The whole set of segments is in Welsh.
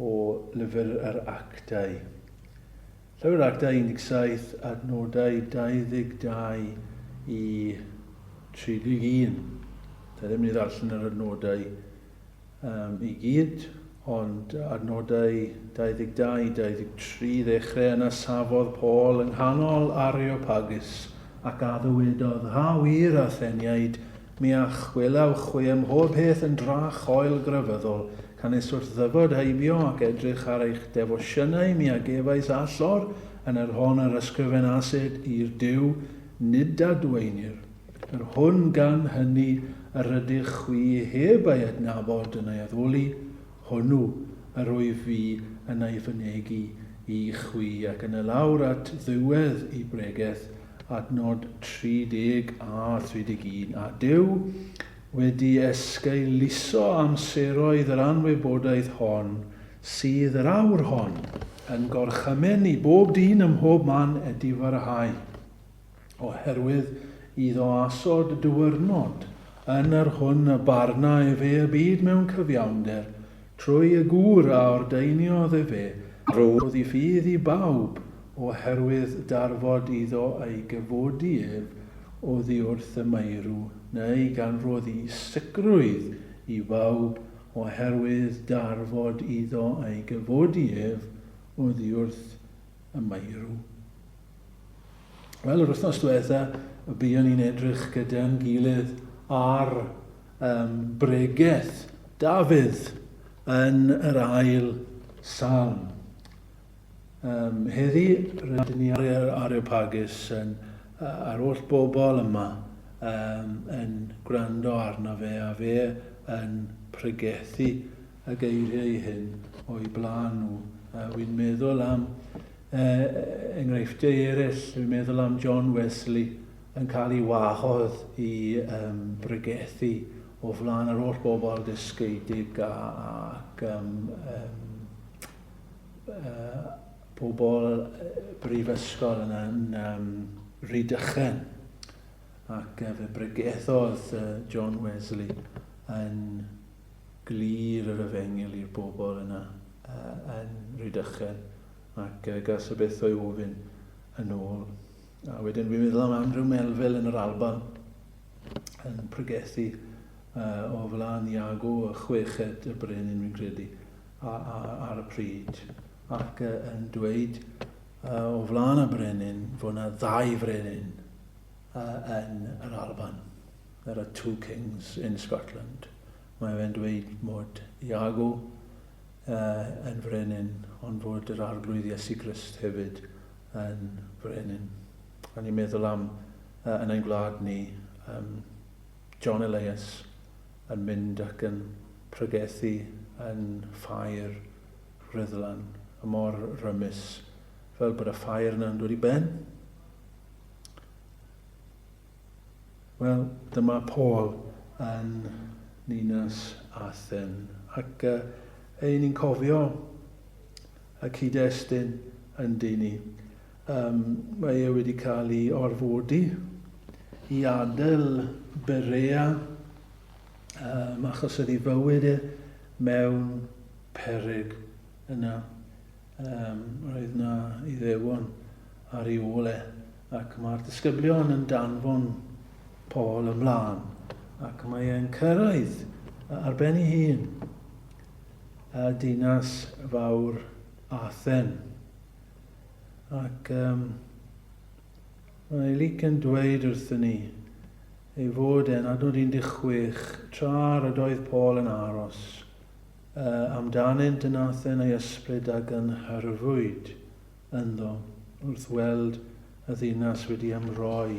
o lyfr yr actau. Llyfr yr actau 17 adnodau 22 i 31. Da ddim ni ddarllen yr adnodau um, i gyd, ond adnodau 22 i 23 ddechrau yna safodd Paul yng nghanol Areopagus ac addywedodd, Ha wir a theniaid, Mi a chwilewch chwi ym mhob peth yn dra choel grefyddol, canys wrth ddyfod heibio ac edrych ar eich defosiynau mi a gefais allor yn yr hon yr ysgrifenasid i'r Duw, nid adweinir, yr hwn gan hyny yr ydych chwi heb ei adnabod yn ei addoli, hwnnw yr wyf fi yn ei fynegi i chwi, ac yna lawr at ddiwedd y bregeth, adnod 30 a 31, a Duw wedi esgeuluso amseroedd yr anwybodaeth hon, sydd yr awr hon yn gorchymyn i bob dyn ym mhob man edifarhau. oherwydd iddo asod y diwyrnod yn yr hwn y barna efe y byd mewn cyfiawnder, trwy y gŵr a ordeiniodd efe, rodd i ffydd i bawb, oherwydd darfod iddo ei gyfodi ef oddiwrth y meirw, neu gan rodd i sicrwydd i bawb, oherwydd darfod iddo ei gyfodi ef oddiwrth y meirw. Wel, yr wythnos diwetha, buon ni'n edrych gyda'n gilydd ar um, bregeth Dafydd yn yr ail salm. Um, heddi, rydyn ni ar, ar y pagus yn, ar oll bobl yma um, yn gwrando arno fe a fe yn pregethu y geiriau hyn o'i blaen nhw. Uh, Wy'n meddwl am enghreifftiau eraill, dwi'n meddwl am John Wesley yn cael ei wahodd i um, bregethu o flaen yr holl bobl dysgeidig ac um, um, uh, pobl brifysgol yn, yn um, Rhydychen. Ac uh, fe bregethodd uh, John Wesley yn glir yr efengil i'r bobl yna uh, yn Rhydychen. ac yy gas e byth o'i ofyn yn ôl. A wedyn fi'n meddwl am Andrew Melville yn yr Alban yn pregethu uh, o flaen Iago y chweched y brenin fi'n credu a, a, ar y pryd ac uh, yn dweud uh, o flaen y brenin fod yna ddau frenin uh, yn yr Alban. There are two kings in Scotland. Mae fe'n dweud mod Iago yn frenin, ond fod yr Arglwydd Iesu Grist hefyd yn frenin. A ni'n meddwl am uh, yn ein gwlad ni, um, John Elias yn mynd ac yn pregethu yn ffair Rhyddlan, y mor rymus, fel bod y ffair yna'n dod i ben. Wel, dyma Paul yn ninas Athen, ac ei ni'n cofio y cyd-destun yn dy ni. Um, mae e wedi cael ei orfodi i adael Berea um, achos oedd ei fywyd e mewn peryg yna. Yym, roedd na Iddewon ar ei ôl e, ac mae'r disgyblion yn danfon Paul ymlaen, ac mae e'n cyrraedd ar ben ei hun y dinas fawr Athen. Ac um, mae Luke yn dweud wrthyn ni ei fod e'n adnod 16 tra'r ydoedd Paul yn aros amdanynt yn Athen a'i ysbryd a gynhyrfwyd ynddo wrth weld y ddinas wedi ymroi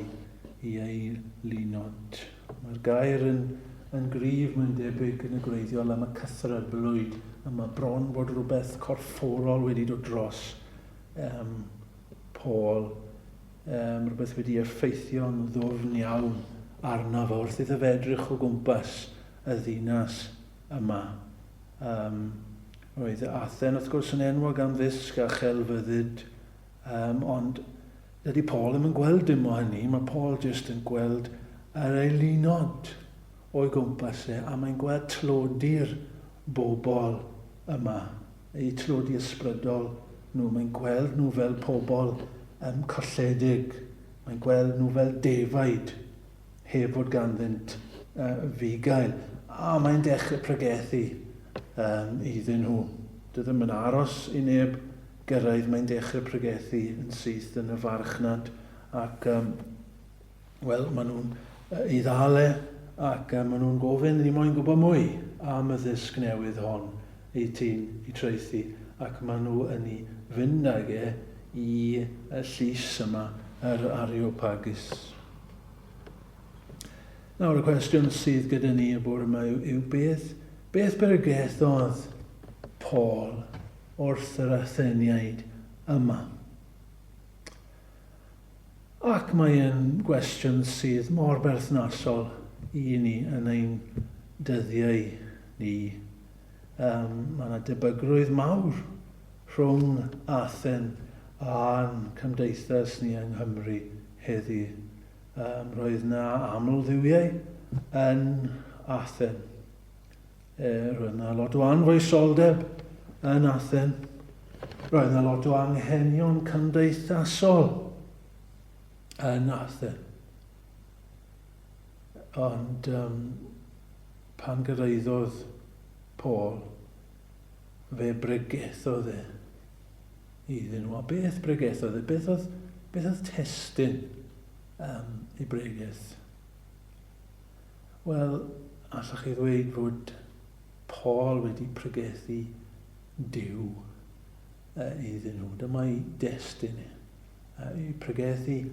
i ei lunod. Mae'r gair yn, yn gryf, mae'n debyg, yn y gwreiddiol am y cythryblwyd. A mae bron bod rhywbeth corfforol wedi dod dros um, Paul, um, rhywbeth wedi effeithio'n ddwfn iawn arno fo wrth iddo fe edrych o gwmpas y ddinas yma. Yym, roedd Athen, wrth gwrs, yn enwog am ddisg a chelfyddyd, um, ond dydy Paul ddim yn gweld dim o hynny. Mae Paul jyst yn gweld yr eilunod o'i gwmpas e, a mae'n gweld tlodi'r bobl yma, eu tlodi ysbrydol nhw. Mae'n gweld nhw fel pobl um, colledig. Mae'n gweld nhw fel defaid heb fod ganddynt fugail, a mae'n dechrau pregethu iddyn nhw. Dydw ddim yn aros i neb gyrraedd, mae'n dechrau pregethu yn syth yn y farchnad, ac wel, maen nhw'n ei ddale, ac maen nhw'n gofyn, ni moyn gwybod mwy am y ddisg newydd hon ei ti'n ei traethu, ac maen nhw yn ei fynd ag e i llys yma, yr Areopagus. Nawr, y cwestiwn sydd gyda ni y bore yma yw, yw beth, beth berygeddodd Paul wrth yr Atheniaid yma? Ac mae'n gwestiwn sydd mor berthnasol i ni yn ein dyddiau ni Yym, mae yna debygrwydd mawr rhwng Athen a'n cymdeithas ni yng Nghymru heddi. Yym, roedd yna amldduwiau yn Athen. E, roedd yna lot o anfoesoldeb yn Athen. Roedd yna lot o anghenion cymdeithasol yn Athen. Ond yym pan gyrraeddodd Paul, fe bregethodd e iddyn nhw. A beth bregethodd e? Beth oedd, beth oedd testyn um, i bregeth? Wel, allwch chi ddweud fod Paul wedi pregethu Dyw uh, iddyn nhw. Dyma'i destyn e. Uh, pregethu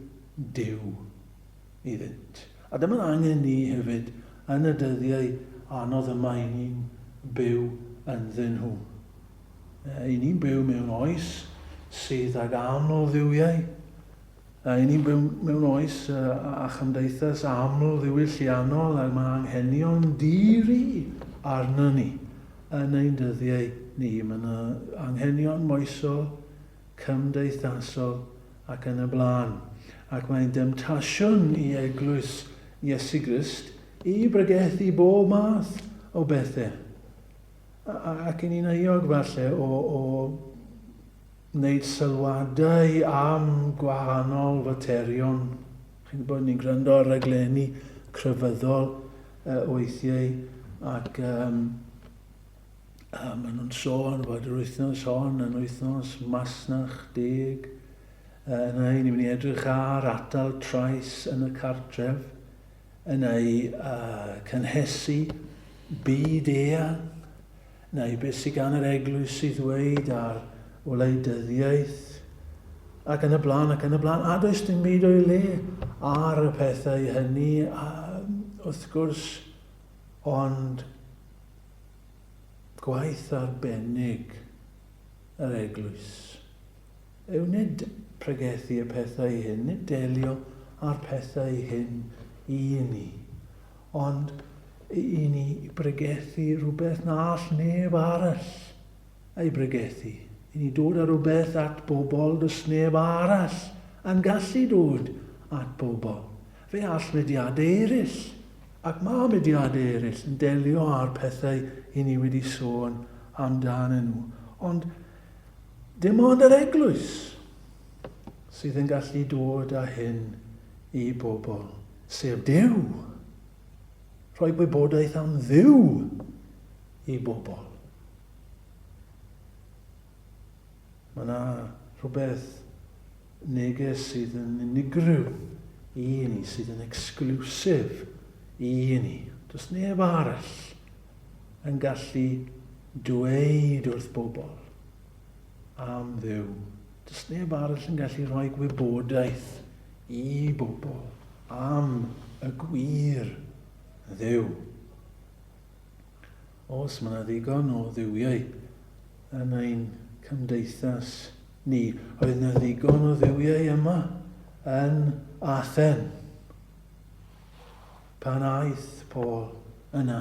Dyw iddynt. A dyma'n angen ni hefyd yn y dyddiau anodd yma i ni'n byw ynddyn nhw. I ni'n byw mewn oes sydd ag amldduwiau, i ni'n byw mewn oes a chymdeithas amlddiwylliannol ac mae anghenion di-ri arnon ni yn ein dyddiau ni. Mae yna anghenion moesol, cymdeithasol ac yn y blaen, ac mae'n demtasiwn i Eglwys Iesu Grist i bregethu bob math o bethe, ac i ni'n euog falle o, o wneud sylwadau am gwahanol faterion. Chi'n gwybod, ni'n gwrando ar raglenni crefyddol uh, weithiau, ac um, A maen nhw'n sôn bod yr wythnos hon yn wythnos masnach deg. Yna i ni'n mynd i edrych ar atal trais yn y cartref. Yna i uh, cynhesu byd eang. Yna i beth sydd gan yr eglwys sydd ddweud ar wleidyddiaeth. Ac yn y blaen, ac yn y blaen. A does dim byd o'i le ar y pethau hynny. A, wrth gwrs, ond Gwaith arbennig yr Eglwys yw nid pregethu y pethau hyn, nid delio â'r pethau hyn i ni, ond i ni bregethu rhywbeth na all neb arall ei bregethu, i ni dod â rhywbeth at bobl does neb arall yn gallu dod at bobl. Fe all mudiadau eraill, ac mae mudiadau eraill, yn delio â'r pethau i ni wedi sôn amdanyn nhw, ond dim ond yr Eglwys sydd yn gallu dod â hyn i bobl, sef Duw. Rhoi gwybodaeth am Dduw i bobl. Mae yna rhywbeth neges sydd yn unigryw i ni, sydd yn exclusif i ni. Does neb arall yn gallu dweud wrth bobl am ddew. Does neb arall yn gallu rhoi gwybodaeth i bobl am y gwir ddew. Oes, mae yna ddigon o dduwiau yn ein cymdeithas ni. Oedd yna ddigon o dduwiau yma yn Athen pan aeth Paul yna.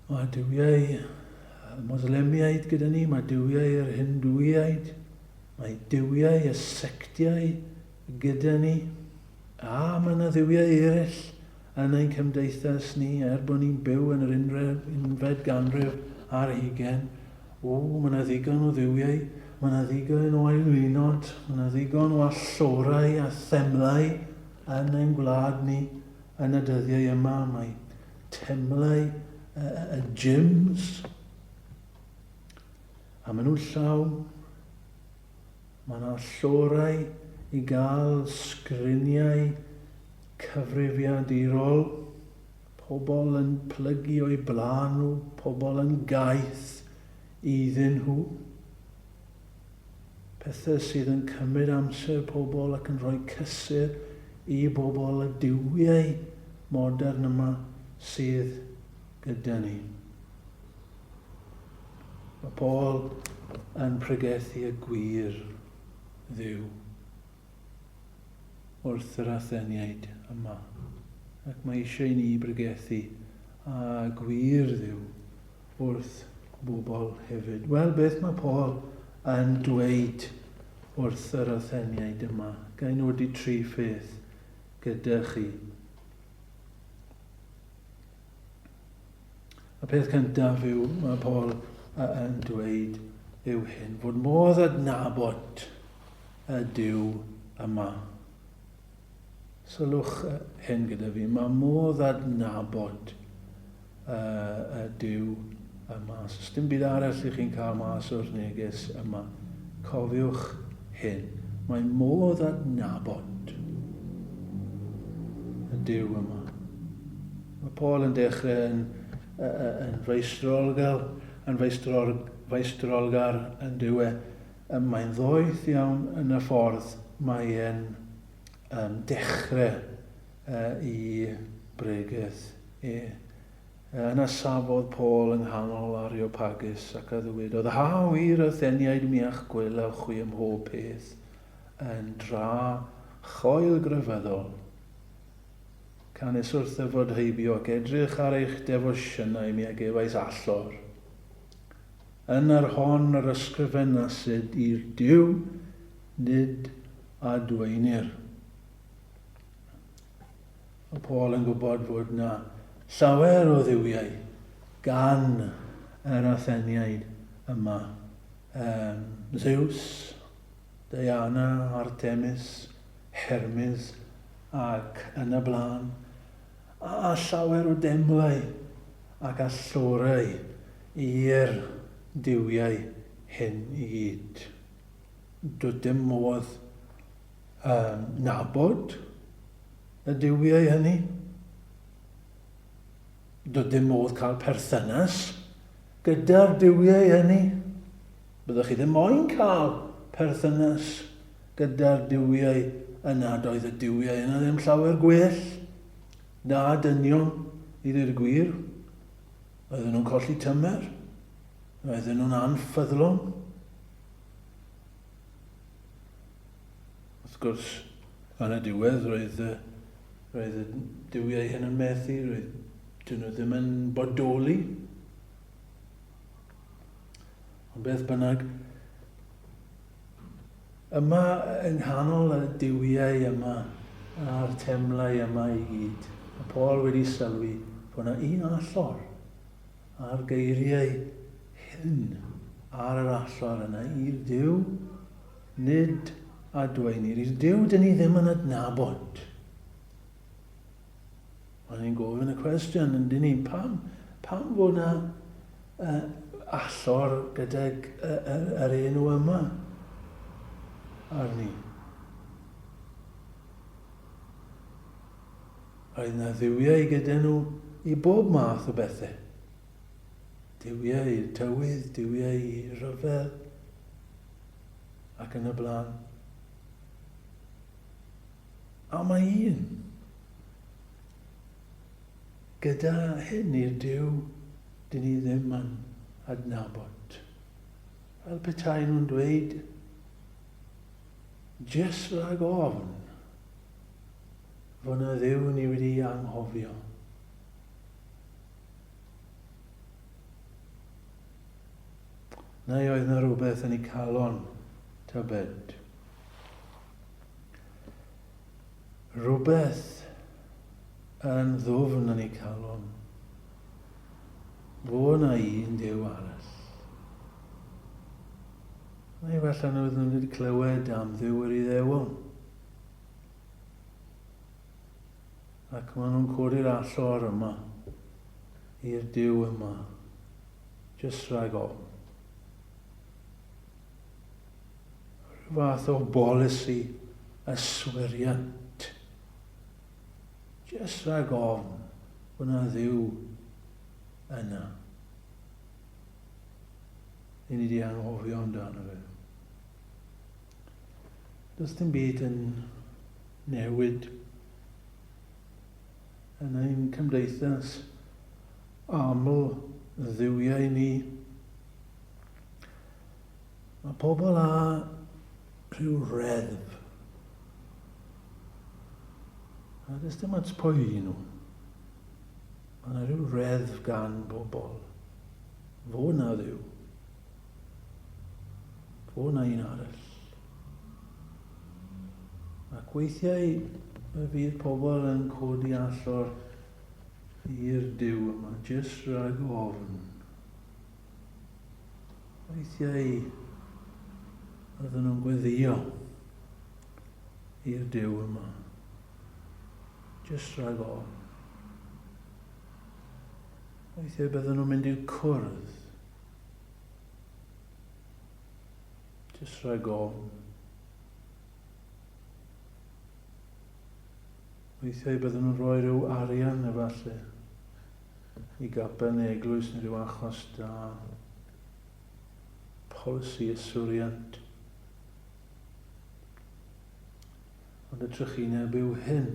Mae duwiau Moslemiaid gyda ni, mae duwiau yr Hindwiaid, mae duwiau y sectiau gyda ni, a mae yna dduwiau eraill Yn ein cymdeithas ni, er bod ni'n byw yn yr unfed, unfed ganrif ar hugen, o, mae yna ddigon o dduwiau, mae yna ddigon o aelwynod, mae yna ddigon o allorau a themlau yn ein gwlad ni yn y dyddiau yma. Mae temlau y, y, y gyms, a maen nhw'n llawn, Mae yna llorau i gael sgriniau cyfrifiadurol, pobl yn plygu o'u blaen nhw, pobl yn gaeth iddyn nhw, pethau sydd yn cymryd amser pobl ac yn rhoi cysur i bobl y duwiau modern yma sydd gyda ni. Mae Paul yn pregethu y gwir Dduw wrth yr Atheniaid yma, ac mae eisiau i ni bregethu a gwir Dduw wrth bobl hefyd. Wel, beth mae Paul yn dweud wrth yr Atheniaid yma? Gael nodi tri pheth gyda chi. Y peth cyntaf yw, mae Paul yn dweud, yw hyn, fod modd adnabod y Dyw yma. Sylwch hyn gyda fi, mae modd adnabod y Dyw y mas, os dim byd arall i chi'n cael mas o'r neges yma, cofiwch hyn, mae modd adnabod y Dyw yma. Mae Paul yn dechrau yn, yn feistrolgar, yn feistrol, feistrolgar yn dyw e, mae'n ddoeth iawn yn y ffordd mae e'n um, dechrau uh, i bregeth e. Yna safodd Paul yng nghanol Areopagus, ac a ddywedodd, Ha ŵyr, Atheniaid miach, gwelewch chwi ym mhob peth yn dra choel grefyddol. Canys wrth ddyfod heibio ac edrych ar eich defosiynau mi a gefais allor. Yn yr hon yr ysgrifenasid i'r Duw, nid adweinir. Mae Paul yn gwybod fod yna llawer o dduwiau gan yr Atheniaid yma, um, Zeus, Diana, Artemis, Hermes ac yn y blaen, a llawer o demlau ac allorau i'r duwiau hyn i gyd. Doedd dim modd yn nabod y duwiau hynny. Doedd dim modd cael perthynas gyda'r duwiau hynny. Byddwch chi ddim moyn cael perthynas gyda'r duwiau yna. Doedd y duwiau yna ddim llawer gwell na dynion, i ddweud y gwir. Oedden nhw'n colli tymer. Oedden nhw'n anffyddlon. Wrth gwrs, yn y diwedd, roedd, roedd y duwiau hyn yn methu, roedd dyn nhw ddim yn bodoli. Ond beth bynnag, yma yng nghanol y diwiau yma a'r temlau yma i gyd, mae Paul wedi sylwi bod yna un allor a'r geiriau hyn ar yr allor yna i'r Duw, nid adwaenir i'r Duw dyn ni ddim yn adnabod. Ond ni'n gofyn y cwestiwn yn dyn ni, pam, pam fod yna uh, allor gydag uh, yr, yr enw yma arni? Roedd yna dduwiau gyda nhw i bob math o bethe. Duwiau i'r tywydd, duwiau i ryfel, ac yn y blaen. A mae un gyda hyn i'r Duw dyn ni ddim yn adnabod. Fel petai nhw'n dweud, jes rhag ofn, Fo na Dduw ni wedi anghofio. Neu oedd na rhywbeth yn ei calon, tybed? Rhywbeth yn ddwfn yn ei calon. Fo na un dew arall. Neu falle nhw ddim wedi clywed am ddew yr iddewon. Ac maen nhw'n codi'r allor yma, i'r Duw yma, jyst rhag ofn. Rhyw fath o bolisi yswiriant. Jyst rhag ofn bod yna ddiw yna. I ni di anghofio amdano fe. Does dim byd yn newid yn ein cymdeithas aml dduwiau ni. Mae pobl â rhyw reddf a does dim at poeni nhw. Mae yna rhyw reddf gan bobl. Fo na dduw. Pwy na un arall. Ac weithiau y fydd pobl yn codi allor i'r Duw yma, jyst rhag ofn. Weithiau ydyn nhw'n gweddio i'r Duw yma, jyst rhag ofn. Weithiau byddwn nhw'n mynd i'r cwrdd Jyst rhag ofn. Weithiau bydden nhw'n rhoi rhyw arian efallai i gapel neu eglwys neu rhyw achos da. Polisi yswiriant. Ond y trychineb yw hyn.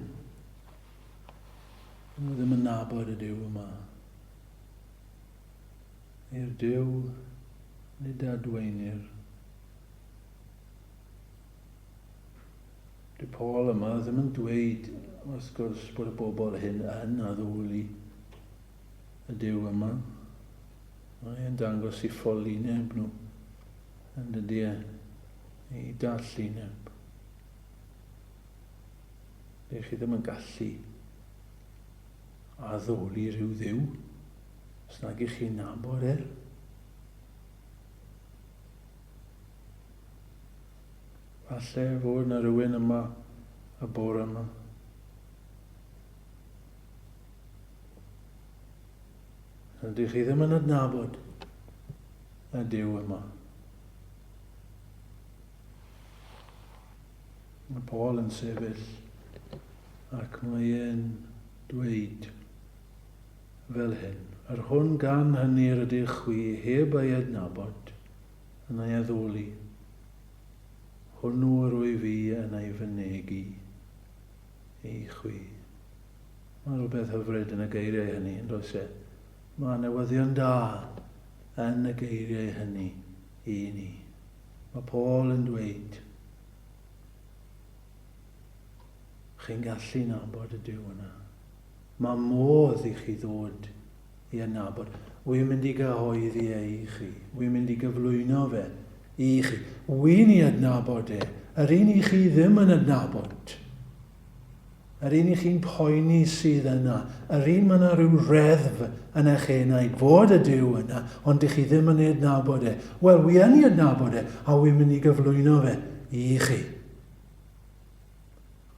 Nhw ddim yn nabod y Dyw yma. i'r Duw nid adwaenir. Dy Paul yma ddim yn dweud wrth gwrs bod y bobl hyn yn addoli y Duw yma. Mae e'n dangos i ffolineb nhw yn dydy e, i dallineb. Dych chi ddim yn gallu addoli rhyw ddiw. Os nag ych chi'n nabod e, falle fod yna rhywun yma y bore yma. Ydych chi ddim yn adnabod y Dyw yma. Mae Paul yn sefyll ac mae e'n dweud fel hyn, yr hwn gan hynny yr ydych chwi heb ei adnabod, yn ei addoli, hwnnw yr wyf i yn ei fynegi i chwi. Mae rhywbeth hyfryd yn y geiriau hynny, yn does e? Mae newyddion da yn y geiriau hynny i ni. Mae Paul yn dweud, chi'n gallu nabod y Duw yna. Mae modd i chi ddod i adnabod. Wi'n mynd i gyhoeddi e i chi. Wi'n mynd i gyflwyno fe i chi. Wi'n i adnabod e. Yr un i chi ddim yn adnabod. Yr un i chi'n poeni sydd yna. Yr un mae yna rhyw reddf yn eich enaid fod y Duw yna, ond dych chi ddim yn ei adnabod e. Wel, wi yn i adnabod e, a wi'n mynd i gyflwyno fe i chi.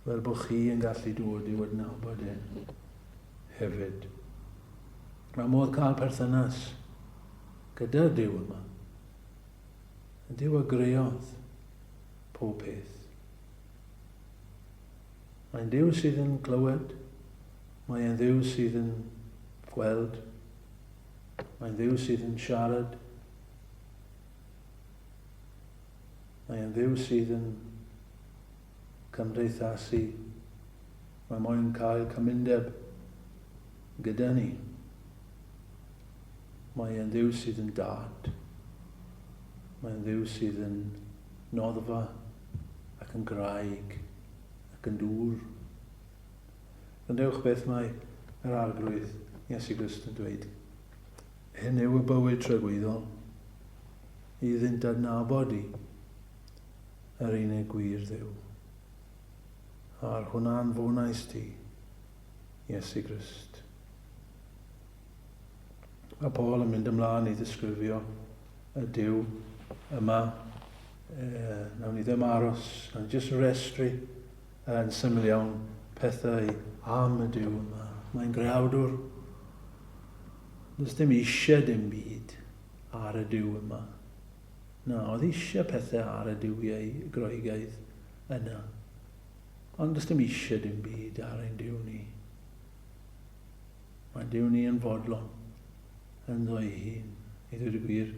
Fel bod chi yn gallu dod i'w adnabod e hefyd. Mae modd cael perthynas gyda'r Duw yma. Y Duw a greodd pob peth. Mae'n Duw sydd yn clywed, mae'n Dduw sydd yn gweld, mae'n Dduw sydd yn siarad, mae'n Dduw sydd yn cymdeithasu, mae moyn cael cymundeb gyda ni. Mae e'n dduw sydd yn dad, mae e'n dduw sydd yn noddfa ac yn graig ac yn dŵr. Rydewch beth mae yr arglwydd Iesu Grist yn dweud. Hyn yw y bywyd tragwyddol, i ddynt adnabod i, yr unig gwir Dduw. Ar hwnna anfonais ti, Iesu Grist. Mae Paul yn mynd ymlaen i ddisgrifio y Duw yma. E, nawn ni ddim aros, nawn ni jyst restru yn syml iawn pethau am y Duw yma. Mae'n greawdwr. Does dim eisiau dim byd ar y Duw yma. na oedd eisiau pethau ar y duwiau Groegaidd yna. Ond does dim eisiau dim byd ar ein Duw ni. Mae Duw ni yn fodlon, ynddo ei hun, i ddweud y gwir,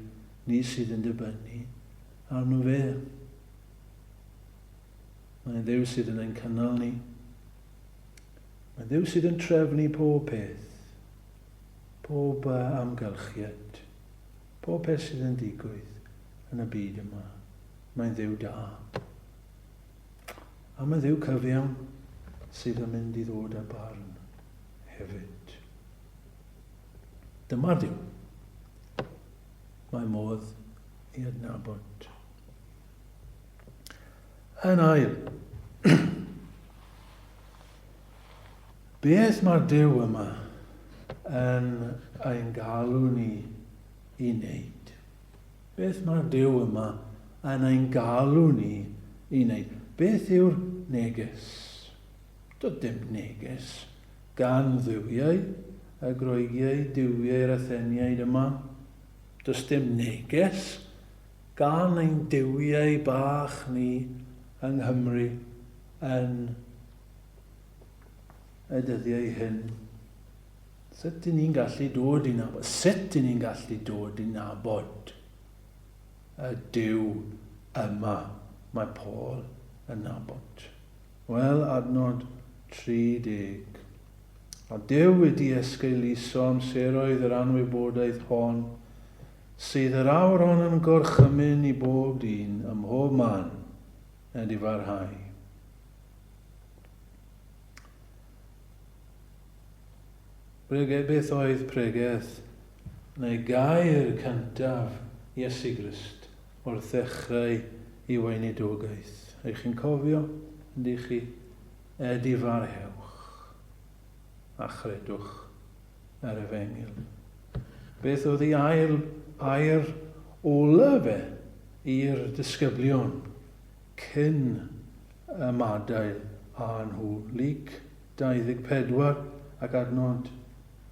ni sydd yn dibynnu arno fe. Mae'n ddew sydd yn ein cynnal ni. Mae'n ddew sydd yn trefnu pob peth, pob amgylchiad. Popeth sydd yn digwydd yn y byd yma, mae'n Dduw da. A mae'n Dduw cyfiawn sydd yn mynd i ddod â barn hefyd. Dyma'r Dduw. Mae modd i adnabod. Yn ail, Beth mae'r Duw yma yn ein galw ni i wneud? Beth mae'r Duw yma yn ein galw ni i wneud? Beth yw'r neges? Doedd dim neges gan dduwiau a Groegiau, duwiau'r Atheniaid yma. Does dim neges gan ein duwiau bach ni yng Nghymru yn y dyddiau hyn. Sut i ni'n gallu dod i nabod? Sut i ni'n gallu dod i nabod y Dyw yma mae Paul yn nabod? Wel, adnod 30. A Dyw wedi esgeuluso amseroedd yr anwybodaeth hon, sydd yr awr hon yn gorchymyn i bob dyn ym mhob man, yn difarhau. Prege, beth oedd pregeth neu gair cyntaf Iesu Grist wrth ddechrau ei weinidogaeth? Ych chi'n cofio, yndych chi? Edifarhewch a chredwch yr efengyl. Beth oedd ei ail air ola fe i'r disgyblion cyn ymadael â nhw, Luc 24 ac adnod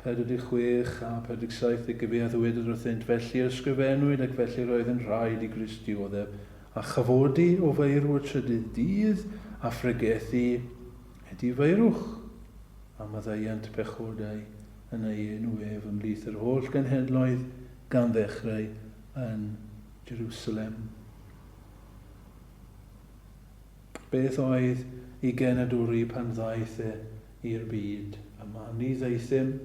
46 a 47, y gyfieithwyd yr wrthynt, felly yr ysgrifenwyd, ac felly yr oedd yn rhaid i Grist dioddef, a chyfodi o feirw y trydydd dydd, a phregethu ei difeirwch, a maddeuant pechodau yn ei enw ef ymhlith yr holl genhedloedd, gan ddechrau yn Jerusalem. Beth oedd ei genadwri pan ddaeth e i'r byd yma? Ni ddaethum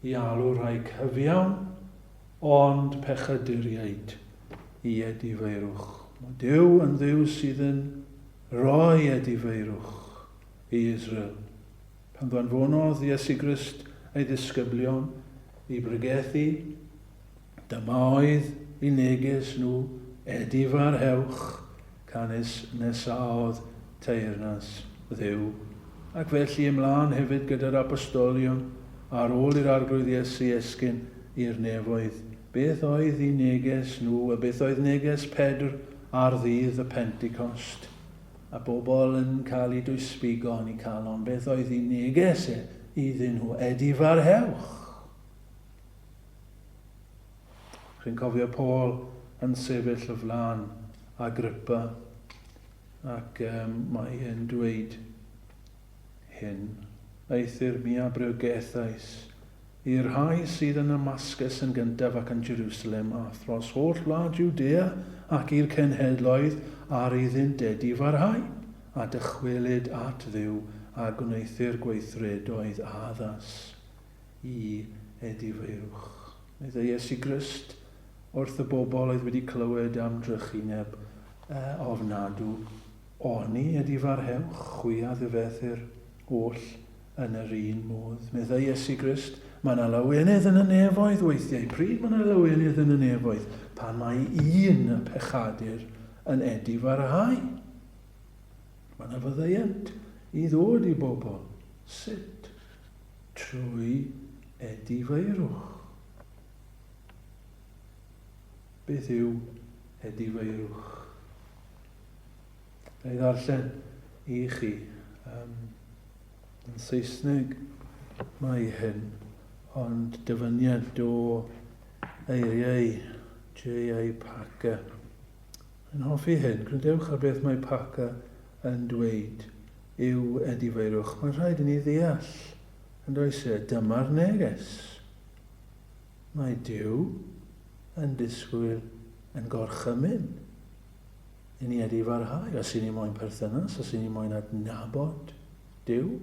i alw rhai cyfiawn, ond pechaduriaid, i edifeirwch. Mae Duw yn Dduw sydd yn rhoi edifeirwch i Israel. Pan ddanfonodd Iesu Grist ei ddisgyblion i bregethu, Dyma oedd i neges nhw, Edifarhewch canys nesaodd teyrnas Dduw. Ac felly ymlân hefyd gyda'r Apostolion, ar ôl i'r Arglwydd Iesu esgyn i'r nefoedd, beth oedd i neges nhw, a beth oedd neges Pedr ar ddydd y Pentecost? A bobl yn cael eu dwysbigo yn eu calon, beth oedd i neges e iddyn nhw, Edifarhewch! Chi'n cofio Paul yn sefyll o flan Agrippa ac um, mae e'n dweud hyn. Eithr mi a briogaethais i'r rhai sydd yn Damascus yn gyntaf ac yn Jerusalem a thros holl wlad Judea ac i'r cenhedloedd ar iddynt dedi farhau, a dychwelyd at Dduw a gwneithir gweithredoedd addas. i edifeirwch. Meddai Iesu Grist wrth y bobl oedd wedi clywed am drychineb y ofnadw, Oni edifarhewch chwi a ddyfethr oll yn yr un modd? Meddai Iesu Grist, Mae yna lawenydd yn y nefoedd weithiau. Pryd mae yna lawenydd yn y nefoedd? Pan mae un pechadur yn edifarhau. Mae yna fyddeuant i ddod i bobl. Sut? trwy edifeirwch. Beth yw edifeirwch? Ga i ddarllen i chi um, yn Saesneg mae hyn, ond dyfyniad o eiriau J.I. Packer. Yn hoffi hyn, credewch ar beth mae Parker yn dweud yw edifeirwch, mae'n rhaid i ni ddeall, yn does e, dyma'r neges. Mae Duw yn disgwyl yn gorchymyn i ni edifarhau os i ni moyn perthynas, os i ni moyn adnabod Duw.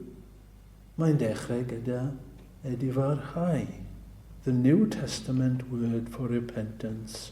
Mae'n dechrau gyda edifarhau. The New Testament Word for Repentance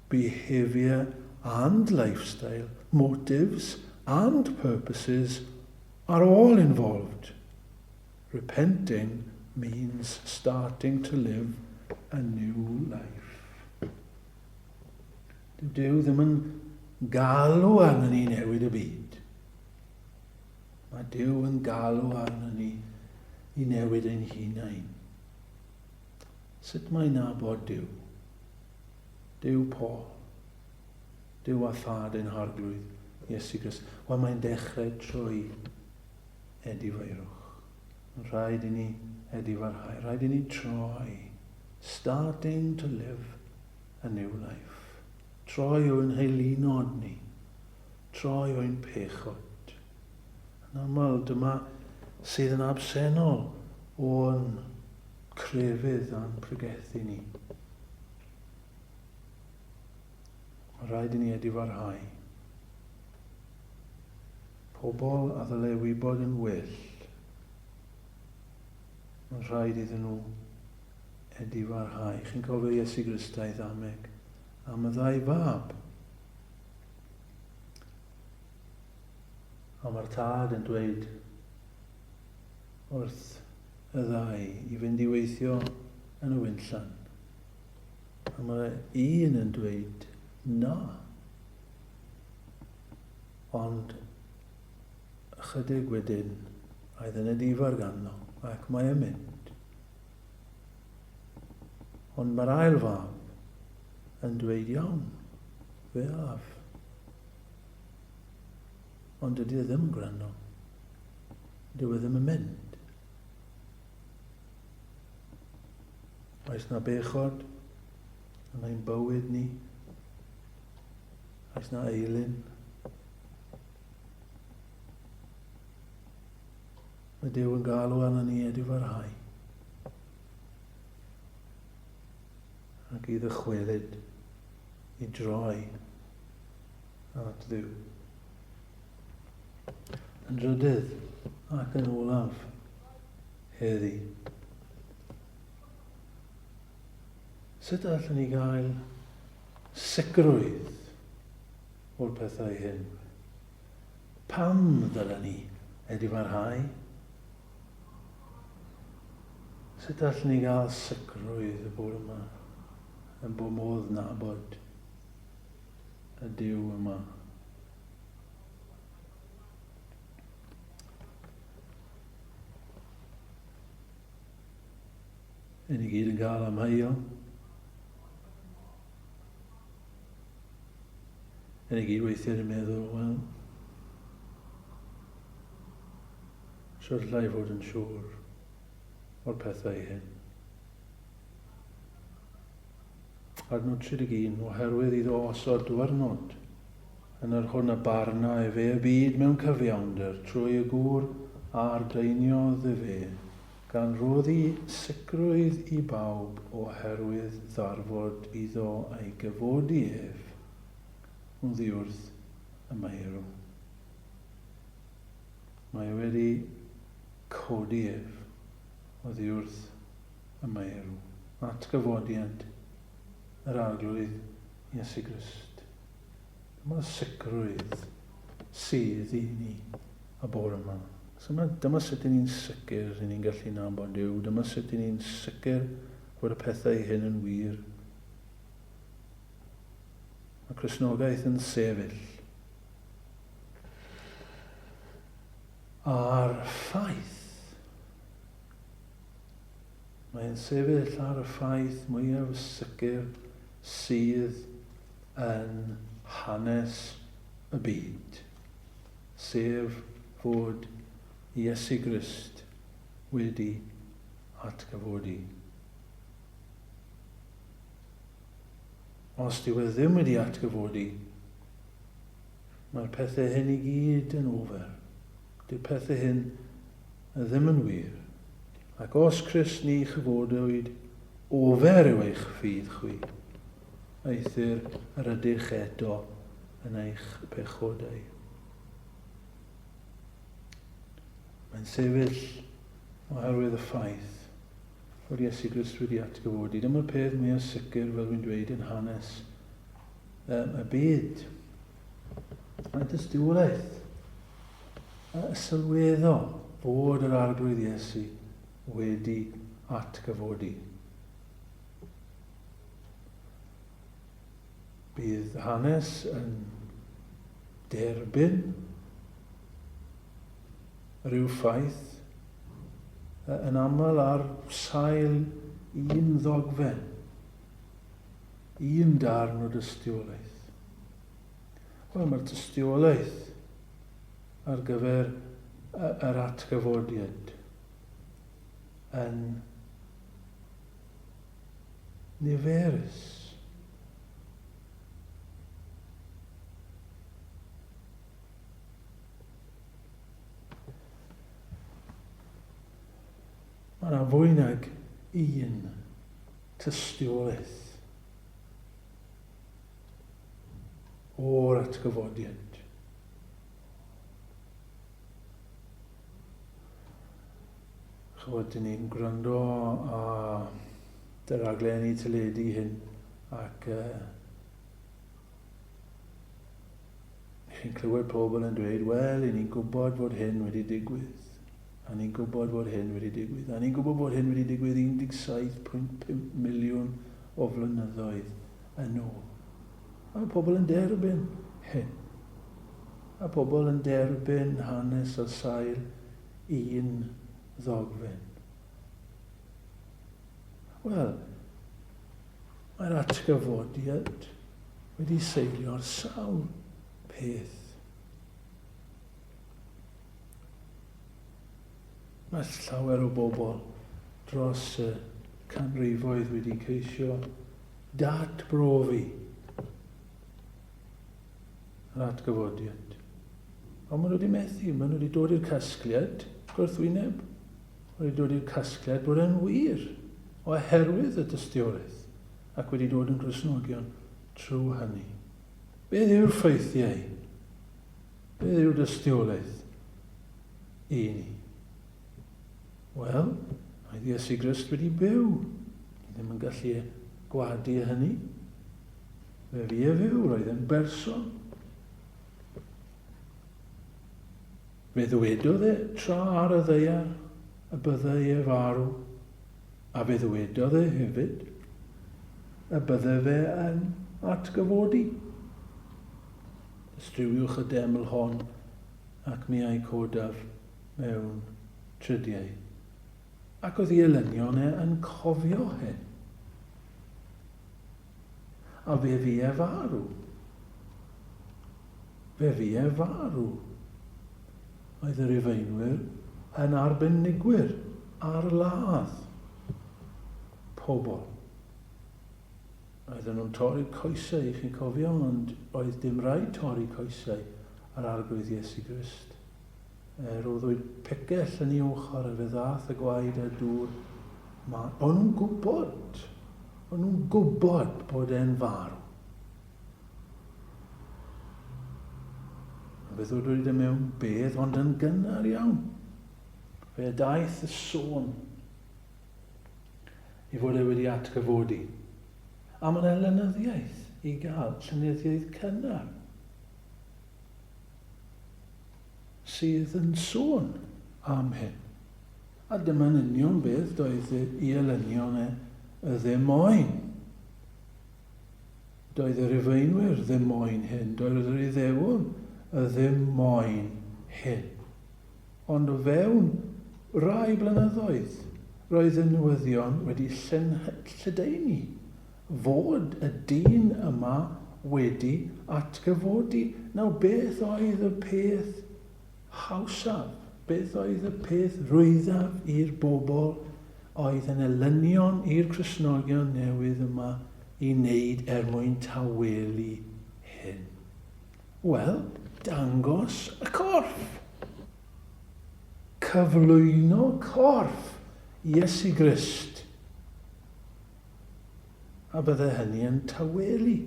behaviour and lifestyle, motives and purposes are all involved. Repenting means starting to live a new life. Dyw Duw ddim yn galw arnyn ni newid y byd. Mae Duw yn galw arnyn ni i newid ein hunain. Sut mae nabod Duw? Duw Paul. Duw a Thad ein Harglwydd, Iesu Grist. Wel, mae'n dechrau trwy edifarwch. Mae'n rhaid i ni edifarhau. Rhaid i ni troi. Starting to live a new life. Troi o'n heilunod ni. Troi o'n pechod. Yn aml, dyma sydd yn absennol o'n crefydd a'n pregethu ni. Mae rhaid i ni edifarhau. Pobl a ddylai wybod yn well, mae'n rhaid iddyn nhw edifarhau. Chi'n cofio Iesu Grist a'i ddameg am y ddau fab? A mae'r tad yn dweud wrth y ddau i fynd i weithio yn y Winllan. A mae un yn dweud na. Ond ychydig wedyn, aedd yn y difar ganddo ac mae yn mynd. Ond mae'r ail fab yn dweud iawn, fe af. Ond dydy e ddim yn gwrando. Dyw e ddim yn mynd. Oes na bechod yn ein bywyd ni? Oes na eilun? Mae Dyw yn galw arno ni i farhau. ac i ddychwelyd i droi at ddiw. Yn drydydd ac yn olaf heddi. Sut allwn ni gael sicrwydd o'r pethau hyn? Pam dylen ni edifarhau? Sut allwn ni gael sicrwydd y bore yma yn bod modd nabod y Dyw yma? Yn i gyd yn gael amhaio. Yn i gyd weithiau yn meddwl, wel, sut llai fod yn siŵr o'r pethau hyn. Ar nod 31, oherwydd iddo osod dwyrnod yn yr hwn a barna efe y byd mewn cyfiawnder trwy y gŵr a ardeiniodd efe, gan roddi sicrwydd i bawb oherwydd ddarfod iddo ei gyfodi ef oddiwrth y meirw. Mae e wedi codi ef oddiwrth Ymaeru at gyfodiant yr Arglwydd Iesu Grist. Dyma sicrwydd sydd i ni y bore yma. Dyma sut i ni'n sicr i ni'n gallu nabod Duw. Dyma sut i ni'n sicr bod y pethau hyn yn wir. Mae Cristnogaeth yn sefyll ar ffaith. Mae'n sefyll ar y ffaith mwyaf sicr sydd yn hanes y byd, sef fod Iesu Grist wedi atgyfodi. Os dyw e ddim wedi atgyfodi, mae'r pethau hyn i gyd yn ofer. Dyw pethe hyn ddim yn wir, ac os crys ni chyfodwyd ofer yw eich ffydd chwi, eithr yr ydych eto yn eich pechodau. Mae'n sefyll oherwydd y ffaith fod Iesu Grist wedi atgyfodi. Dyma'r peth mwyaf sicr, fel wy'n dweud, yn hanes um, y byd. Mae dystiolaeth y sylweddol bod yr Arglwydd Iesu wedi atgyfodi. Bydd hanes yn derbyn rhyw ffaith yn aml ar sail un ddogfen, un darn o dystiolaeth. Wel, mae'r tystiolaeth ar gyfer yr atgyfodiad yn niferus. Mae yna fwy nag un tystiolaeth o'r atgyfodiad. Chymod, dyn ni'n gwrando a dy raglenni teledu hyn ac uh, chi'n clywed pobl yn dweud, wel, i ni'n gwybod fod hyn wedi digwydd. A ni'n gwybod fod hyn wedi digwydd. A ni'n gwybod fod hyn wedi digwydd 17.5 miliwn o flynyddoedd yn ôl. A mae pobl yn derbyn hyn. A pobl yn derbyn hanes ar sail un ddogfen. Wel, mae'r atgyfodiad wedi seilio'r sawl peth. Mae llawer o bobl dros y canrifoedd wedi ceisio datbrofi yr atgyfodiad. Ond maen nhw wedi methu, maen nhw wedi dod i'r casgliad gwrthwyneb. Maen nhw wedi dod i'r casgliad bod e'n wir oherwydd y dystiolaeth ac wedi dod yn Gristnogion trwy hynny. Beth yw'r ffeithiau? Beth yw dystiolaeth i ni? Wel, mae Iesu Grist wedi byw. Ni ddim yn gallu e gwadu hynny. Fe fi e fyw, roedd yn berson. Fe ddwedodd e tra ar y ddeiar y byddai e farw, a fe ddwedodd e hefyd y byddai fe yn atgyfodi. Ystyriwch y deml hon ac mi a'i codaf mewn tridiau. Ac oedd ei elynion e yn cofio hyn. A fe fu e farw. Fe fu e farw. Oedd y Rufeinwyr yn arbenigwyr ar ladd pobl. Oedden nhw'n torri coesau, chi'n cofio, ond oedd dim rhaid torri coesau ar Arglwydd Iesu Grist. E, roddwyd pegell yn ei ochr a fe ddath y gwaed a'r dŵr ma. O'n nhw'n gwybod, o'n nhw'n gwybod bod e'n farw. A fe ddodwyd y mewn bedd, ond yn gynnar iawn. Fe daeth y sôn ei fod e wedi atgyfodi. A mae yna lenyddiaeth i gael, llenyddiaeth cynnar, sydd yn sôn am hyn. A dyma'n union beth doedd i elynion e ddim moyn. Doedd yr Rufeinwyr ddim moyn hyn, doedd yr Iddewon ddim moyn hyn. Ond o fewn rai blynyddoedd, roedd y newyddion wedi lledaenu fod y dyn yma wedi atgyfodi. Nawr, beth oedd y peth hawsaf, beth oedd y peth rwyddaf i'r bobl oedd yn elynion i'r Cristnogion newydd yma i wneud er mwyn tawelu hyn? Wel, dangos y corff. Cyflwyno corff Iesu Grist. A bydde hynny yn tawelu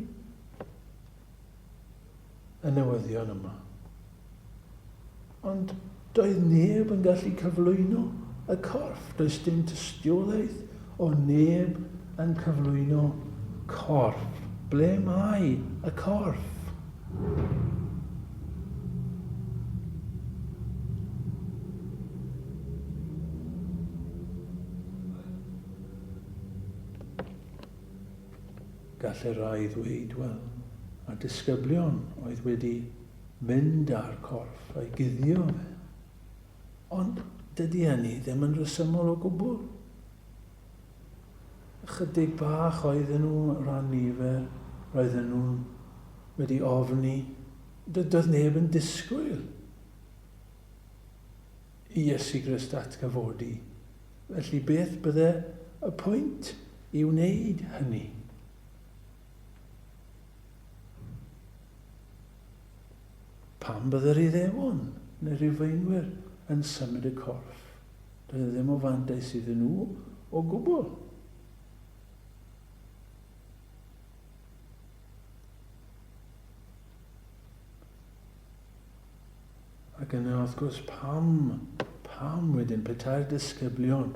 y newyddion yma. Ond doedd neb yn gallu cyflwyno y corff, does dim tystiolaeth o neb yn cyflwyno corff. Ble mae y corff? Gall y rhai ddweud, wel, a disgyblion oedd wedi mynd â'r corff a'i guddio fe. Ond dydy hynny ddim yn resymol o gwbl. Ychydig bach oedden nhw o ran nifer, roedden nhw wedi ofni, doedd neb yn disgwyl i Iesu Grist atgyfodi, felly beth bydde y pwynt i wneud hynny? Pam bydd yr Iddewon neu Rufeinwyr yn symud y corff? Doedd e ddim o fantais iddyn nhw o gwbl. Ac yna, wrth gwrs, pam, pam wedyn petai'r disgyblion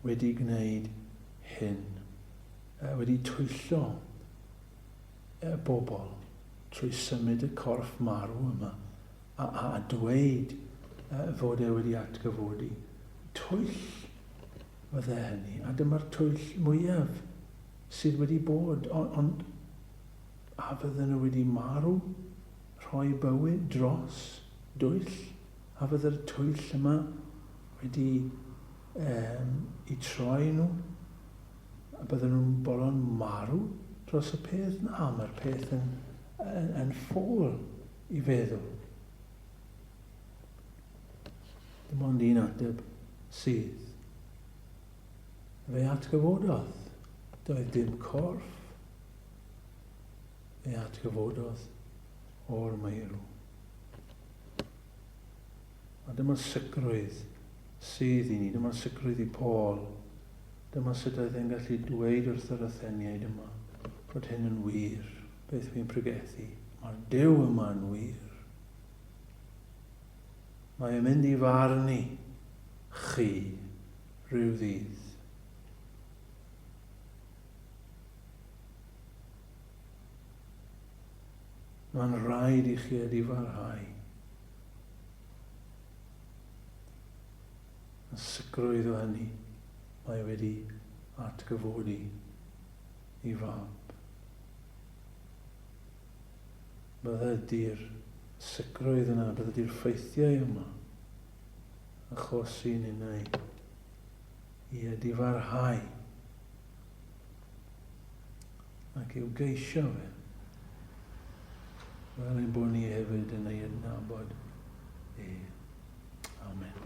wedi gwneud hyn? wedi twyllo y bobl trwy symud y corff marw yma a a dweud ei fod e wedi atgyfodi. Twyll fydde hynny, a dyma'r twyll mwyaf sydd wedi bod, ond a fydden nhw wedi marw? Rhoi bywyd dros dwyll? A fydde'r twyll yma wedi eu troi nhw? a bydden nhw'n bolon marw dros y peth na mae'r peth yn yn yn ffôl i feddwl. Dim ond un ateb sydd. Fe atgyfododd, doedd dim corff. Fe atgyfododd o'r meirw. A dyma sicrwydd sydd i ni, dyma sicrwydd i Paul. Dyma sut oedd e'n gallu dweud wrth yr Atheniaid yma bod hyn yn wir, beth fi'n pregethu. Mae'r Duw yma yn wir. Mae e'n mynd i farnu chi rhyw ddydd. Mae'n rhaid i chi ydi farhau. A sicrwydd o hynny mae wedi atgyfodi i fab. Bydde di'r sicrwydd yna, bydde di'r ffeithiau yma, achosi ninnau i edifarhau. ac i'w geisio fe, fel ein bod ni hefyd yn ei adnabod e. Amen.